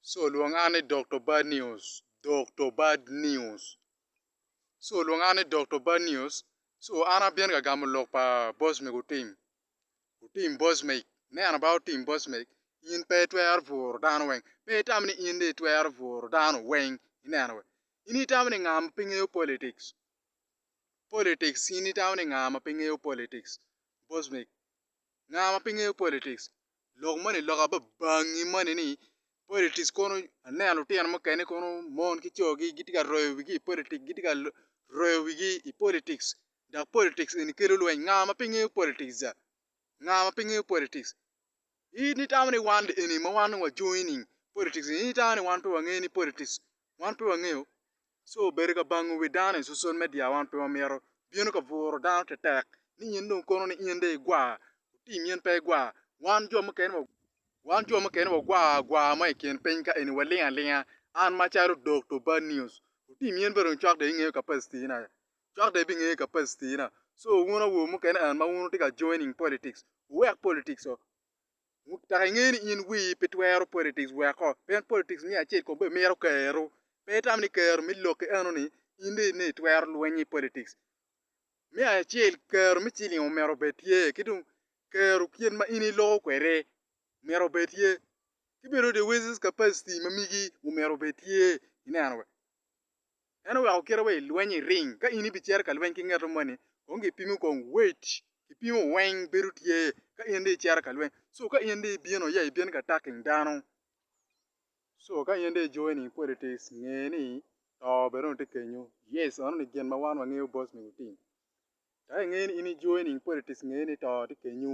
So lwong an ni Dokto Bad News, Dokto Bad News. So lwong an ni Dokto Bad News, So an abino ka gamo lok pa boss me gutim, gutim boss me, me an ba otim boss me, in pe itwero bworo dano weng, pe itam ni in dong itwero bworo dano weng, ineno wee, in itamo ni nga ma pe ngeyo politics, politics in itamo ni nga ma pe ngeyo politics, boss me. Nga ma pe ngeyo politics lok moni lok aye babangi moni ni politics kono aneno lutino mukene kono mon ki coo gi gitye ka royo wigi i politics gitye ka royo wigi i politics dok politics eni kelo lweny nga ma pe ngeyo politics dok nga ma pe ngeyo politics in itamo ni wan eni ma wan dong wa joining politics in itamo ni wan pe wangeyo ni politics wan pe wangeyo Ci obedo ka bango wi dano i sosol me dya wan pe wamito bino ka bwuro dano tetek ni nyin dong kono ni in dong igwa otim in pe igwa wan jo mukene wa wan jo mukene wa gwa agwa mo i kin piny ka eni waling alinga an ma calo Dokto Bad News otim in bene dong cwak dong ingeyo capacity na cwak dong ibingeyo capacity na so wun awobe mukene and ma wun wutye ka joining politics wuwek politics oo Dok ingeyo ni in wii pe twero politics weko pien politics miyo acel kong bene mito kero. Pe itamo ni kero me lokki eno ni in dong ine itwero lwenyo i politics. Me acel kero me ciling omyero obed tye ki dong kero kit ma in iloko kwede myero obed tye ki bene the wages capacity ma migi omyero obed tye ineno. En oweko kite wa i lweny i ring. Ka in ibicito ka lweny ki ngeto moni, kong gipimi kong wait kipimo weng bedo tye ka in dong icito ka lweny. So ka in dong ibino ya ibino ka attacking dano, so ka in dong i joining politics nge ni to bene onongo tye kenyo. Yes meno ni gin ma wan wangeyo boss me lutim. Dok inge ni in i joining politics nge ni to tye kenyo.